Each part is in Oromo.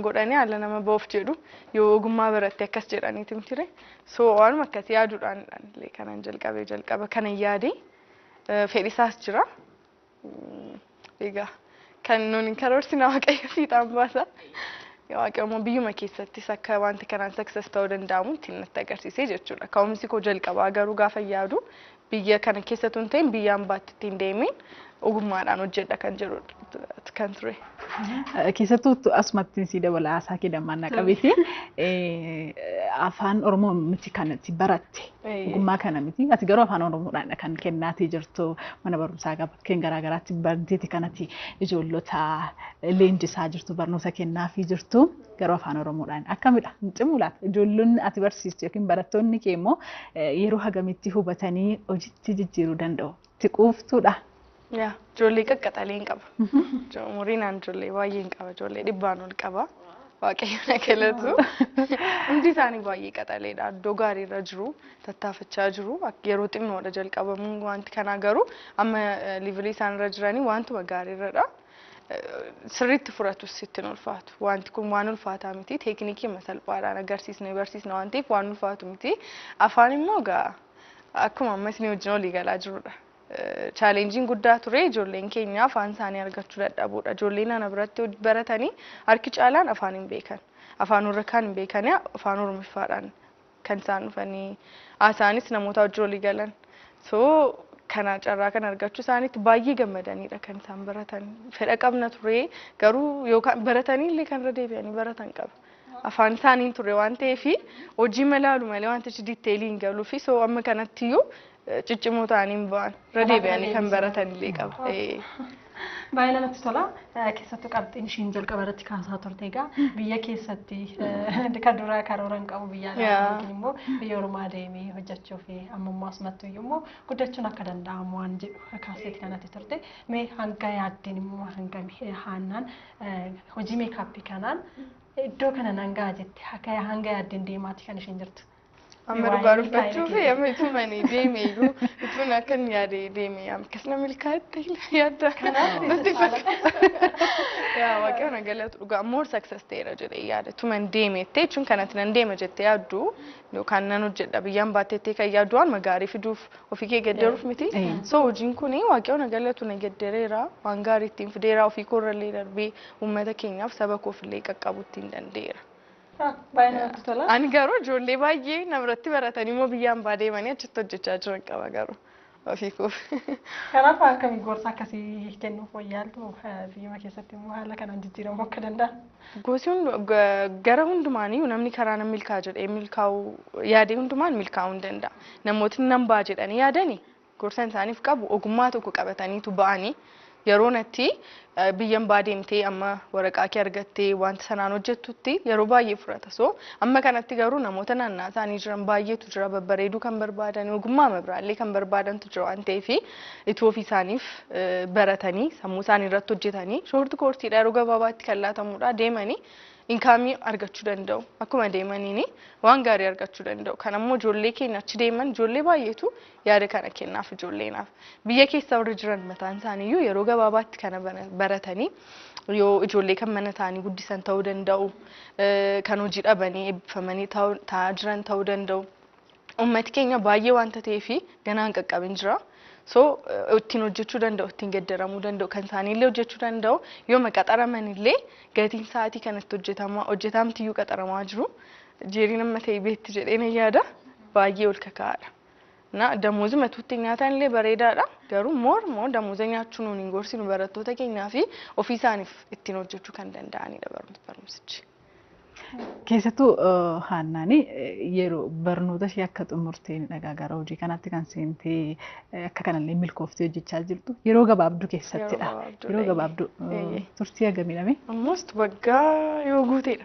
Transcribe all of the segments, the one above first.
godhani ala nama ba'uf jedhu yoo ogummaa baratte akkas jedhaniiti mitire so waanuma akkasi yaaduudhaan illee kanan jalqabe jalqaba kanan yaade fedhisaas jira egaa kan nuun hin karoorsina waaqayyo fiixaan baasa waaqayyo immoo biyyuma keessattis akka wanti kanaan success ta'uu danda'amu ittiin natti agarsiise jechuudha ka'umsi koo jalqabaa garuu gaafa yaadu Biyya kana keessa utuu hin ta'in biyya ambaatti ittiin deemiin ogummaadhaan hojjedha kan jedhu kan ture. Keessattuu asumattiin sii dabala haasaa kee dammaan na qabiti. Afaan Oromoo miti kan itti baratte ogummaa kana miti. Ati garuu afaan Oromoodhaan kan kennaatii jirtu mana barumsaa bakkeen garaagaraatti barteeti kanatti ijoollota leenjisaa jirtu barnoota kennaafii jirtu. Garuu afaan Oromoodhaan akkamidha? Hin cimu laata? Ijoollonni ati barsiistu yookiin barattoonni kee immoo yeroo hagamitti hubatanii hojitti jijjiiruu danda'u? Itti quuftuudha. Yaa ijoollee qaqqaxalee hin qaba. Umuriin aan ijoollee baay'ee hin qaba. Ijoollee dhibbaan ol qaba. Waaqayyo na galatu. Hundi isaanii baay'ee qaxaleedha. Iddoo gaariirra jiru. Tattaafachaa jiru. Yeroo xinnoodha jalqabamuun wanti kanaa garuu amma liivilii isaanirra jiranii wantuma gaariirradha. sirriitti furatus sitti hin ulfaatu. Wanti kun waan ulfaataa miti. Teeknikii masalphaadhaan agarsiisne barsiisna waan ta'eef waan ulfaatu miti. Afaan immoo gaa akkuma amma isin wajjin olii galaa jirudha. Chaalenjiin guddaa ture ijoolleen keenya afaan isaanii argachuu dadhabuudha. Ijoolleen ana biratti baratanii harki caalaan afaan hin beekan. Afaan warra kaan hin beekanii afaan oromiffaadhaan kan isaan dhufanii haasa'anis namootaa wajjin walii galan. So kana carraa kan argachuu isaaniitti baay'ee gammadaniidha kan isaan baratan. Fedha qabna ture garuu yookaan baratanii illee kan irra deebi'anii baratan qaba. Afaan isaaniin ture waan ta'eef hojii malaalu malee wantichi diiteelii hin galuu fi so amma kanatti iyyuu ciccimoo ta'anii hin ba'an. Irra Kanaaf deebi'anii kan deebisan. baratan illee qaba. Oh. Ee. Baay'ee namatti tola. Eh, Keessattuu qabxiin ishiin jalqaba irratti kaasaa turte egaa biyya keessatti eh, kan duraa karoora hin qabu biyya alaa Yaa. yookiin immoo biyya ormaa deemee hojjechuu fi ammummaa sumattu iyyuu immoo guddachuun akka danda'amu waan jedhu kaaseeti kanatti turte. Mee hanga yaaddeen immoo hanga mi- haannaan eh, hojii meekaappii kanaan iddoo kana nan ga'a jette akka hanga yaaddeen deemaati kan ishiin jirtu. Amma dhugaa dubbachuuf amma itumani deeme iyyuu itun akkan yaade deeme akkas na milkaa'etti yaadda natti fakkaata. Yaa waaqayyo na galatu dhugaa more success ta'eera jedhee yaada tuman deeme jettee jechuun kanatti nan deema jettee yaaddu yookaan nan hojjedha biyyaan baattee jettee kan yaaddu waan magaarii fiduuf ofii kee gedderuuf miti. So hojiin kun waaqayyo na galatu na geddereera waan gaarii ittiin fideera ofii koo irrallee darbee uummata keenyaaf saba koof illee qaqqabu ittiin danda'eera. Ah, Baay'ee namatti tola. Ani garuu ijoollee baay'ee namarratti baratanii immoo biyya ambaa deemanii achitti hojjechaa jiran qaba garuu ofii koo. Kanaaf akkami gorsa akkasii kennuuf wayyaaltu eh, biyyuma keessatti immoo haala kanaan jijjiiramuu akka danda'a. Gosi hundu- ga- gara hundumaaniyyuu namni karaa nan milkaa jedhee milkaa'uu yaadee hundumaan milkaa'uu hin danda'a. Namootni nan ba'a jedhanii yaadani Gorsan isaaniif qabu ogummaa tokko qabataniitu ba'ani. Yeroo natti biyyan baa deemtee amma waraqaa kee argattee wanta sanaan hojjettutti yeroo baay'ee fudhata. So amma kanatti garuu namoota naannaa isaanii jiran baay'eetu jira babbareeduu kan barbaadan ogummaa mabiraallee kan barbaadantu jira waan ta'eef itti ofii isaaniif eh, baratanii sammuu isaanii irratti hojjetanii shoorti koorsiidha yeroo gabaabaatti kan laatamudha deemanii inkaamii argachuu danda'u akkuma deemaniini waan gaarii argachuu danda'u kan ammoo ijoollee keenya achi deeman ijoollee baay'eetu Yaada kana kennaaf ijoolleenaaf. Biyya keessa warri jiran mataan isaaniiyyuu yeroo gabaabaatti kana bara- baratanii yoo ijoollee kan mana isaanii guddisan ta'uu danda'u, eh, kan hojii dhabanii eebbifamanii ta'u- ta'aa jiran ta'uu danda'u. Uummati keenya baay'ee waanta ta'eef ganaa hin qaqqabin jira. So eh, ittiin hojjechuu danda'u, ittiin geddaramuu danda'u, kan isaaniillee hojjechuu danda'u yooma qaxaramanillee gatiin sa'aatii kanatti hojjetamaa hojjetaamtiyyuu qaxaramaa jiru. Jeeriin amma ta'e beetti jedhee nan yaada. Baay'ee ol kaka'aadha. Na damozi matuutti nyaataan illee bareedaadha. Garuu more more damoza nyaachuu nuun hin gorsinu barattoota keenyaa fi ofii isaaniif ittiin hojjechuu kan danda'anidha barumsa- barumsichi. Keessattuu eh, Haannaani eh, yeroo barnoota ishee akka xumurteen dhagaa gara hojii kanaatti kan seentee eh, akka kanallee milkooftee hojjechaa jirtu yeroo gabaabduu keessattidha. gabaabduu Yeroo dha, gabaabduu eh, eeyyee. turtii hagamidhame. Almost waggaa yoo guuteedha.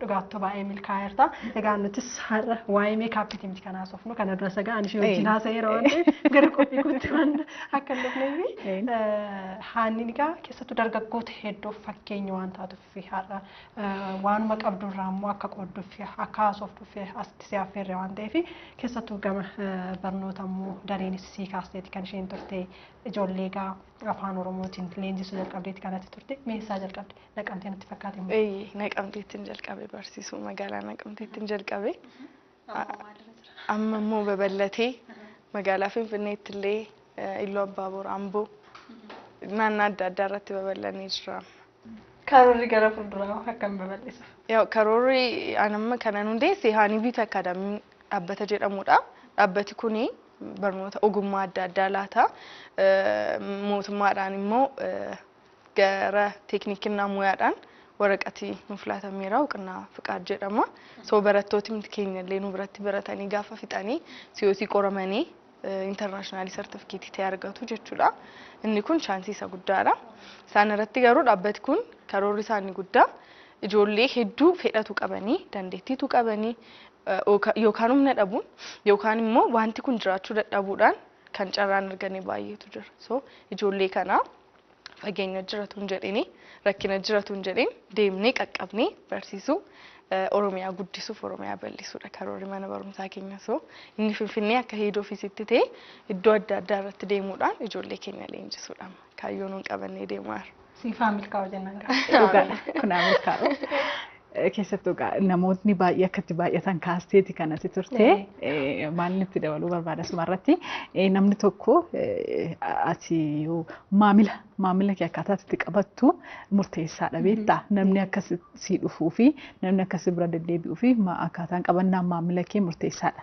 Dhugaattuu baay'ee milkaa'eerta. Egaa nutis har'a waa'ee meekaappiti miti kan haasofnu kana dura sagaa ani ishee wajjin haasa'eera waan ta'eef gara qophii kootti waan akka hin dhufneef haanni egaa keessattuu dargaggoota hedduuf fakkeenya waan taatuuf har'a waanuma qabdu irraa immoo akka qoodduuf akka haasoftuuf asitti si affeerre waan ta'eef keessattuu gama barnoota immoo dareenis sii kaasteeti kan isheen turte ijoollee egaa Afaan Oromootiin leenjisuu jalqabdeetti kanatti turte. Mee eessaa jalqabde? Naqamtee natti fakkaate immoo. Eeyyee naqamteettiin jalqabe barsiisuu magaalaa naqamteettiin jalqabe. Amma immoo babal'atee magaalaa Finfinneetti illee Illoo Abbaa Boor Amboo naannaa adda addaa irratti babal'anee jira. Karoorri gara fuulduraa hoo akkam babal'isuuf? Yaa'u karoorri an amma kanan hundeesse Haanibiit Akaadaamiin dhaabbata jedhamudha. Dhaabbati kun barnoota ogummaa adda addaa laata. Mootummaadhaan immoo gara teeknikinnaa muyaadhaan waraqati nuuf laatameera uqnaa fiqaad jedhama. So barattooti keenya illee nu biratti baratanii gaafa fixanii siyoosii qoramanii intarnaashinaalii sartifikeetii ta'e argatu jechuudha. Inni kun chaansii isa guddaadha. Isaan irratti garuu dhaabbati kun karoorri isaa inni guddaa ijoollee hedduu fedhatu qabanii dandeettiitu qabanii yookaan humna dhabuun yookaan immoo wanti kun jiraachuu dadhabuudhaan kan carraan arganii baay'eetu jira. So ijoollee kana fageenya jiratu hin jedhini rakkina jiratu hin jedhin deemnee qaqqabnee barsiisuu eh, Oromiyaa guddisuuf Oromiyaa bal'isuudha karoorri mana barumsaa keenya so inni finfinnee akka heed ofiisitti ta'e iddoo adda addaa irratti deemuudhaan ijoollee keenya leenjisuudha kaayyoon nuun qabannee deemaa jira. Siifaa milkaa'u jennaan. Dhugaadha. Kun haa milkaa'u. Keessattuu egaa namootni baay'ee akka itti baay'atan kaasteeti kan ati turte. Eh, Maal itti dabaluu barbaada asuma irratti eh, namni tokko eh, ati yoo maamila maamila kee akkaataa itti qabattu murteessaadha beektaa namni akka si si dhufuu fi namni akka si bira deddeebi'uu fi ma- akkaataan qabannaa maamila kee murteessaadha.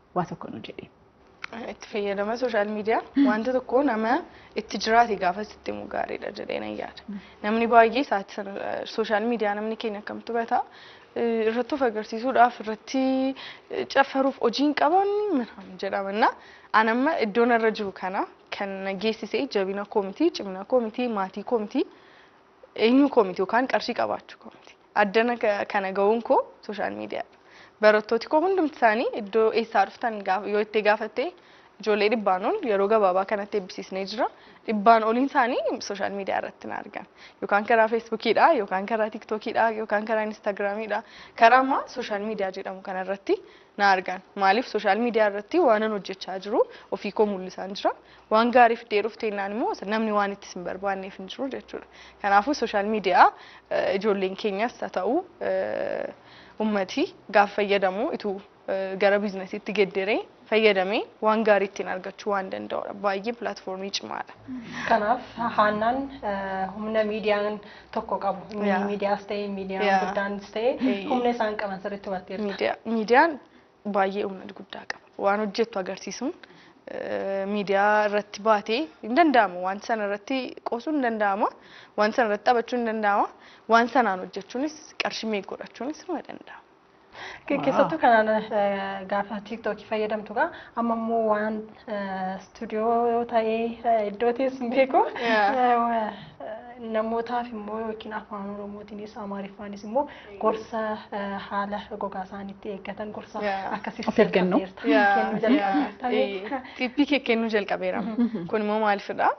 waa tokko nu jedhi. Itti fayyadama sooshaal miidiyaa wanta tokko nama itti jiraate gaafa sitti himu gaariidha jedhee nan yaada. Namni baay'ee isaatti sana sooshaal miidiyaa namni keenya akkamtu bata eh, irratti of agarsiisuudhaaf irratti eh, caffaruuf hojii hin qaban miraam jedhamanna. An amma iddoon irra jiru kana kan na geessise jabina koo miti, cimina koo miti, maatii koo miti. Eenyuu koo miti yookaan qarshii qabaachuu koo miti. Addana kana ga'uun koo sooshaal miidiyaadha. Barattooti koo hundumti isaanii iddoo eessaa dhuftan yoo itti gaafatte ijoollee dhibbaan ol yeroo gabaabaa kanatti eebbisiisnee jira. Dhibbaan oliin isaanii sooshaal miidiyaa irratti na argan. Yookaan karaa feesbuukiidha, yookaan karaa tiiktookiidha, yookaan karaa inistaagiraamiidha. Karaa ammaa sooshaal miidiyaa jedhamu kanarratti na argan. Maaliif social media irratti waanan hojjechaa jiru ofii koo mul'isaan jira. Waan gaarii fiddee dhufte jennaan immoo namni waan itti sin barbaanneef hin jiru jechuudha. Kanaafuu social media ijoolleen keenyas haa ta'u ummati gaaf fayyadamu ituu gara biiznasiitti gedderee fayyadamee waan gaarii ittiin argachuu waan danda'udha. Baay'ee pilaatfoormii cimaadha. Kanaaf haannaan humna miidiyaan tokko qabu. Inni Yeah. miidiyaas ta'e, miidiyaan Yeah. guddaanis ta'e Eeyyee. humna isaan qaban sirriitti hubatteerta. Miidiyaa- miidiyaan baay'ee humna guddaa qaba. Waan hojjettu agarsiisuun eh, miidiyaa irratti baatee hin danda'amu. Waan sana irratti qoosuun hin danda'ama. Waan sana irratti taphachuun hin danda'ama. Waan sanaan hojjechuunis qarshii meeqa godhachuunis ni danda'ama. Ke- Keessattuu kanaan eh, gaafa tiiktookii fayyadamtu gaa amma immoo waan eh, istuudiyoo ta'ee eh, iddoo teessu hin beeku Yeah. Eh, wa- eh, namootaaf immoo yookiin afaan oromootiinis amaariffaanis immoo gorsa eh, haala gogaa isaaniitti eeggatan gorsa Yeah. akkasiis Of eeggannoo. jalqabdeerta. Kennuu jalqabdeerta. Xiippii kee kennuu jalqabeera. Kun immoo maalifidha?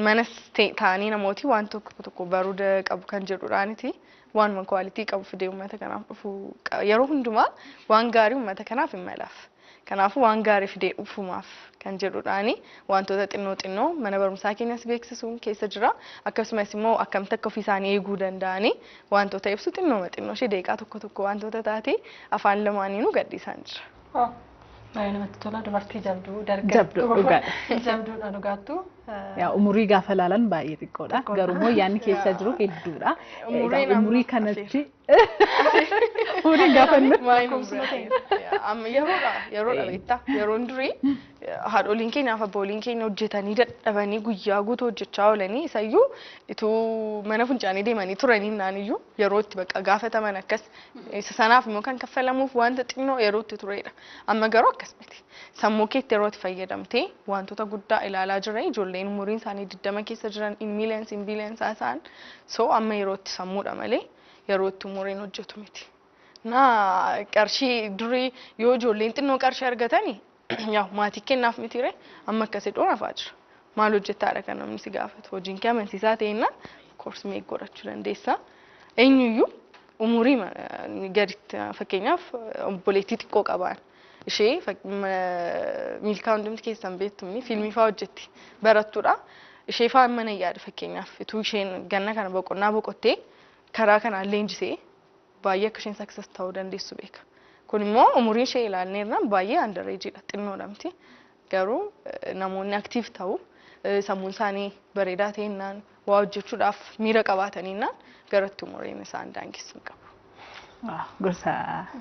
manas taa'anii namooti waan tokko tokko baruu qabu kan jedhudhaaniti waanuma kwaalitii qabu fidee uummata kanaaf dhufu yeroo hundumaa waan gaarii uummata kanaaf hin malaaf. Kanaafuu waan gaarii fidee dhufumaaf kan jedhudhaani wantoota xinnoo xinnoo mana barumsaa keenyas beeksisuun keessa jira. Akkasumas immoo akkamitti akka ofii isaanii eeguu danda'anii wantoota ibsu xinnooma xinnoo ishee deeqaa tokko tokko wantoota taate afaan lamaaniinuu gadhiisaan jira. Oh, baay'ee namatti tola dubartii jabduu Jabduu, dargaggoon dhugaadha. jabduudha dhugaattuu. Eh, Yaa umurii gaafa laalan baay'ee xiqqoodha. Xiqqoodha. Garuu immoo yaadni keessa Yaa. jiru hedduudha. Umuriin Egaa amma umurii kanatti umuriin gaafa inni Maayii Lakkoofsuma nuuf ta'e. biraa. Amma yeroodha yeroodha beektaa yeroon durii haadholiin keenyaaf abbooliin keenya hojjetanii dadhabanii guyyaa guutuu hojjechaa oolanii isayyuu ituu mana funcaanii deemanii turanii naaniyyuu yeroo itti bakka gaafataman akkas Isa sanaaf immoo kan kaffalamuuf wanta xinnoo yerootti turedha. Amma garuu akkas miti. Sammuu keetti yeroo itti fayyadamtee wantoota guddaa ilaalaa jira. Ijoolleen umuriin isaanii 20 keessa jiran in millions in billions haasa'an. So amma yerootti sammuudha malee yerootti umuriin hojjetu miti. Na qarshii durii yoo ijoolleen xinnoo qarshii argatani Yaw maatii kennaaf mitiire amma akka si dhoon hafaa jira. Maal hojjettaadha kan namni si gaafatu. Hojiin kee amansiisaa ta'ennaan of course meeq godhachuu dandeessa. Eenyuyyuu umurii ma- gaditti fakkeenyaaf obboleettii xiqqoo qabaan ishee fak- ma- miilkaa hundumti keessan beektu inni fiilmii fa'aa hojjetti barattuudha. Ishee fa'aa mana yaada fakkeenyaaf utuu isheen ganna kana boqonnaa boqottee karaa kanaan leenjisee baay'ee akka isheen success ta'uu dandeessu beeka. Kun immoo umurii ishee ilaalnee irraan baay'ee under age dha xinnoodha miti. Garuu eh, namoonni active ta'u eh, sammuun isaanii bareedaa ta'ennaan waa hojjechuudhaaf miira qabaataninnaan garatti umuriin isaan daangessu hin qabu. Waaw, Gorsa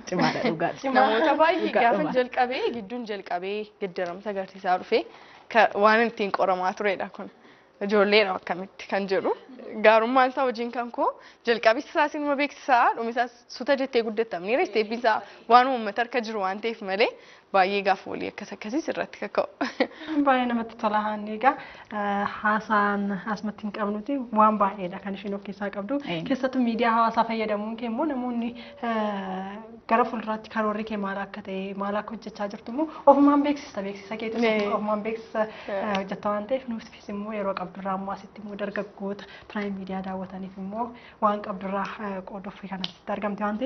cimaadha dhugaa. Namoota baay'ee Dhugaa gaafa dhumaa. jalqabee gidduun jalqabee geddaramsa agarsiisaa dhufee ka- waan ittiin qoramaa turedha kun. Ijoolleedha akkamitti kan jedhu gaarummaan isaa hojiin kan koo jalqabis isaa sinuma beeksisaa dhumisaas suta jettee guddattamneera isteeppiin isaa waan uummata harka jiru waan ta'eef malee baay'ee gaafa walii akkas akkasiis irratti kaka'u. Baay'ee namatti tola haanni egaa haasaan asumatti hin qabnuti waan baay'eedha kan isheen of keessaa qabdu keessattuu miidiyaa hawaasaa fayyadamuun kee immoo namoonni gara fuulduraatti karoorri kee maal akka ta'e maal akka hojjechaa jirtu immoo ofumaan beeksista beeksisa keetu Mee. ofumaan beeksisa eh, hojjetta waan ta'eef nuufis immoo yeroo qabdurraa ammoo asitti immoo dargaggoota piraayim miidiyaa daawwataniif immoo waan qabdurraa eh, qooduuf kan asitti argamte waan ta'eef